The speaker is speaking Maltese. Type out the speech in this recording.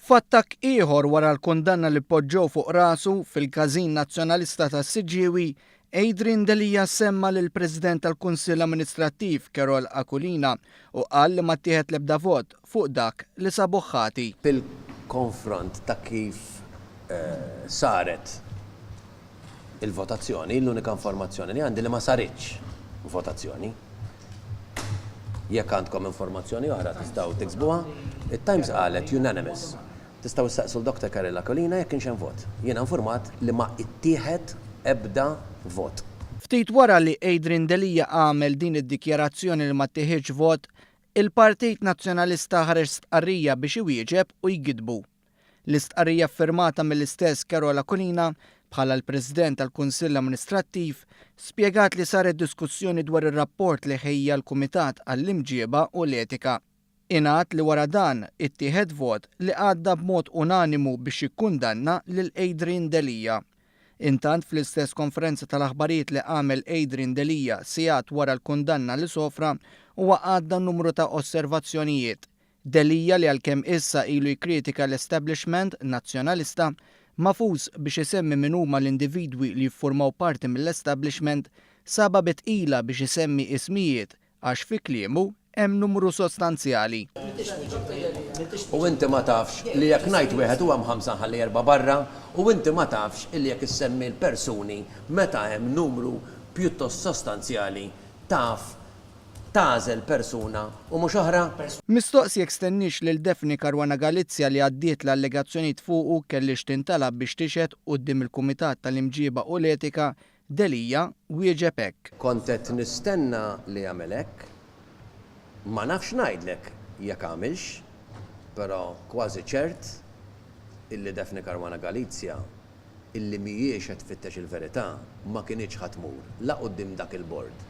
F'attakk ieħor wara l-kundanna li poġġew fuq rasu fil-każin Nazzjonalista tas-Siġġiewi, Adrian Delia semma lill-President tal-Kunsill Amministrattiv Carole Aquilina u qal li ma ttieħed l-ebda vot fuq dak li sabuh ħati. fil-konfront ta' kif saret. il-votazzjoni, l-unika informazzjoni li għandi li ma saritx votazzjoni. Jekk għandkom informazzjoni oħra tistgħu tiksbuha. It-Times qalet unanimous. Tistgħu ssaqsu l-Dr. Carol Aquilina jekk kienx hemm vot. Jiena infurmat li ma ittieħed ebda vot. Ftit wara li Adrian Delia għamel din id-dikjarazzjoni li ma ttieħidx vot, il-Partit Nazzjonalista ħareġ stqarrija biex iwieġeb u jgiddbu. L-istqarrija ffirmata mill-istess Carol Aquilina bħala l-President tal-Kunsill Amministrattiv spjegat li saret diskussjoni dwar ir-rapport li ħejja l-Kumitat għall-Imġieba u l-Etika. Ingħad li wara dan ittieħed vot li għadda b'mod unanimu biex jikkundanna lil Adrian Delia. Intant fl-istess konferenza tal-aħbarijiet li għamel Adrian Delia sigħat wara l-kundanna li sofra huwa għadda numru ta' osservazzjonijiet Delia li għalkemm issa ilu jikkritika l-establishment Nazzjonalista, ma fuqx biex isemmi min huma l-individwi li jifformaw parti mill-establishment, sabha bi tqila biex isemmi ismijiet għax fi kliemu hemm numru sostanzjali. U inti ma tafx li jekk ngħid wieħed u hemm ħamsa nħalli erbgħa barra, u inti ma tafx li jekk issemmi l-persuni meta hemm numru pjuttost sostanzjali taf tagħżel persuna u mhux oħra? Mistoqs jekk stenniex lil Daphne Caruana Galizia li għaddiet l-allegazzjonijiet fuqu kellhiex tintalab biex tixhed quddiem il-Kumitat tal-Imġieba u l-Etika, Delia wieġeb hekk. Kont qed nistenna li jagħmel hekk. Ma nafx ngħidlek jekk għamilx, però kważi ċert illi Daphne Caruana Galizia, illi mhijiex qed tfittex il-verità ma kinitx ħa tmur la quddiem dak il-Bord,